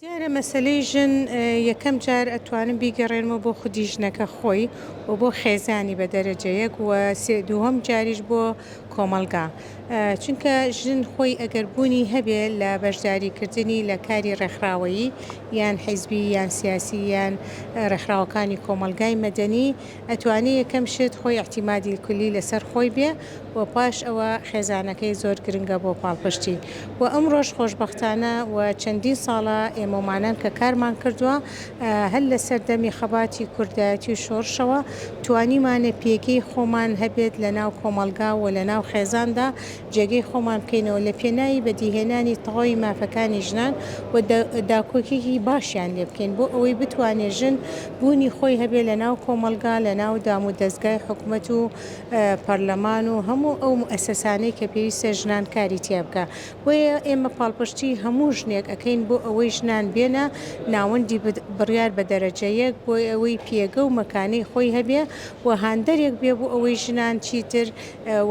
دیارە مەسەلەی ژن یەکەم جار ئەتوانم بیگەڕێنمەوە بۆ خودی ژنەکە خۆی و بۆ خێزانی بە دەرەجە یەک و سێ دووهەم جاریش بۆ کۆمەڵگا چونکە ژن خۆی ئەگەر بوونی هەبێ لە بەشداری کردنی لە کاری ڕێکخراوەیی یان حیزبی یان سیاسی یان ڕێکخراوەکانی کۆمەڵگای مەدەنی ئەتوانی یەکەم شت خۆی اعتمادی الکلی لەسەر خۆی بێ و پاش ئەوە خێزانەکەی زۆر گرنگە بۆ پاڵپشتی و ئەمڕۆش خۆشبەختانە و چەندین ساڵە ئێمەومانان کە کارمان کردوە هەر لەسەر دەمی خەباتی کوردایەتی و شۆڕشەوە توانیمانە پێگەی خۆمان هەبێت لەناو کۆمەڵگا و لەناو خێزاندا جێگەی خۆمان بکەینەوە لە پێناوی بەدیهێنانی تەواوی مافەکانی ژنان و داکۆکیی باشیان لێ بکەین بۆ ئەوەی بتوانێ ژن بوونی خۆی هەبێ لە ناو کۆمەڵگا، لە ناو دام و دەزگای حکومەت و پەرلەمان و هەموو ئەو موئەسەسانەی کە پێویستە ژنان کاری تیا بکا. بۆیە ئێمە پاڵپشتیی هەموو ژنێک ئەکەین بۆ ئەوەی ژنان بێنە ناوەندی بڕیار بە دەرەجە یەک بۆ ئەوەی پێگە و مەکانەی خۆی هەبێ و هاندەرێک بێ بۆ ئەوەی ژنان چیتر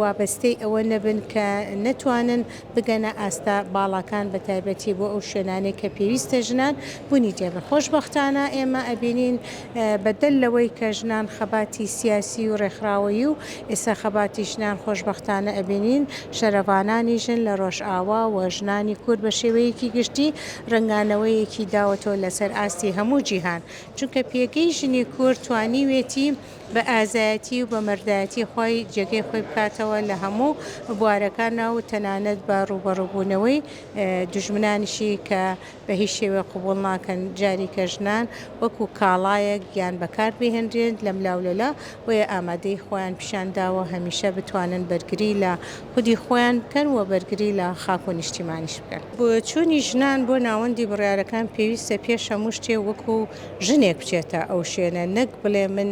وابەستەی ئەوە نەبن کە نەتوانن بگەنە ئاستە باڵاکان بە تایبەتی بۆ ئەو شوێنانەی کە پێویستە ژنان بونی تێبن خۆشبەختانە ئێمە ئەبینین بە دەل لەوەی کە ژنان خەباتی سیاسی و رێکخراوەیی و ئێستا خەباتی ژنان خۆشبەختانە ئەبینین شەرەڤانانی ژن لە رۆژئاوا و ژنانی کورد بە شێوەیەکی گشتی رەنگانەوەیەکی داوەتەوە لە سەر ئاستی هەموو جیهان چونکە پێگەی ژنی کورد توانیوێتی بە ئازایەتی و بە مەردایەتی خۆی جێگەی خۆی بکاتەوە لە هەموو بوارەکانا و تەنانەت بە ڕووبەڕووبوونەوەی دوژمنانیشی کە بە هیچ شێوەیەک قبوڵ ناکەن جاریکە ژنان وەکوو کاڵایەک یان بەکار بهێنرێن لەملاولەلا بۆیە ئامادەیی خۆیان پیشان داوە هەمیشە بتوانن بەرگری لە خودی خۆیان بکەن و بەرگری لە خاک و نیشتیمانیش بکەن. بۆچوونی ژنان بۆ ناوەندی بڕیارەکان پێویستە پێش هەموو شتێ وەکوو ژنێک بچێتە ئەو شوێنە نەک بڵێ من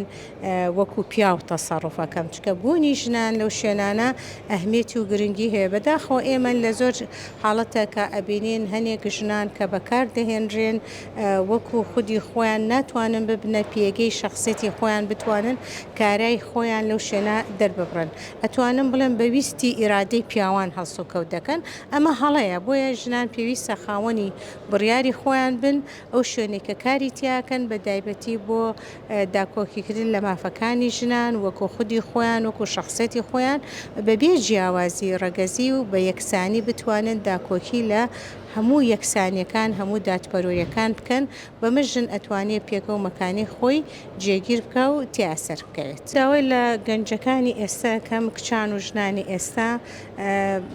وەکو پیاو تەسەڕوفەکەم چکە بوونی ژنان لەو شوێنانە ئەهمێتی و گرنگی هەیە بەداخەوە ئێمە لە زۆر حاڵەتە کە ئەبینین هەنێک ژنان کە بەکار دەهێنرێن وەکو خودی خۆیان ناتوانن ببنە پێگەی شخصێتی خۆیان بتوانن کارای خۆیان لەو شوێنە دەرببڕن ئەتوانم بڵێم بە ویستی ئیرادەی پیاوان هەڵسوکەوت دەکەن ئەمە هەڵەیە بۆیە ژنان پێویستە خاوەنی بڕیاری خۆیان بن ئەو شوێنەی کە کاری تیاکەن بە دایبەتی بۆ داکۆکیکردن لە مافەکانی ژنان وەکو خودی خۆیان وەکو شەخسیەتی خۆیان بە بێ جیاوازی ڕەگەزی و بە یەکسانی بتوانن داکۆکی لە هەموو یەکسانیەکان هەموو دادپەروەریەکان بکەن بەمە ژن ئەتوانێ پێگەو مەکانی خۆی جێگیر بکا و تیا سەر بکەوێت. داوای لە گەنجەکانی ئێستا ئەکەم کچان و ژنانی ئێستا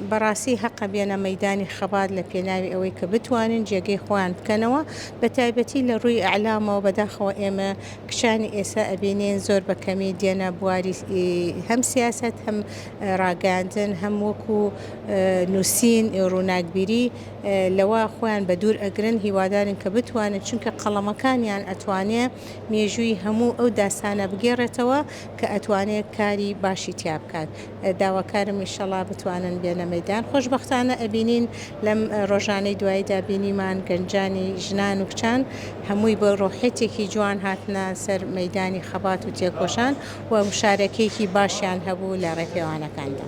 بەڕاستی هەقە بێنە مەیدانی خەبات لە پێناوی ئەوەی کە بتوانن جێگەی خۆیان بکەنەوە بە تایبەتی لە ڕووی ئەعلامەوە بەداخەوە ئێمە کچانی ئێسا ئەبینێن زۆر بە کەمی دێنە بواری هەم سیاست هەم ڕاگەاندن هەم وەکو نووسین ڕووناکبیری لەوە خۆیان بە دوور ئەگرن هیوادارن کە بتوانن چونکە قەڵەمەکانیان ئەتوانێ مێژووی هەموو ئەو داستانە بگێڕێتەوە کە ئەتوانێت کاری باشی تیا بکات. داواکارم ئیشەڵا بتوانن بێنە مەیدان خۆشبەختانە ئەبینین لەم ڕۆژانەی دواییدا بینیمان گەنجانی ژنان و کچان هەمووی بە ڕۆحێتێکی جوان هاتنە سەر مەیدانی خەبات و تێکۆشان و مشارەکەیەکی باشیان هەبوو لە ڕێپێوانەکاندا.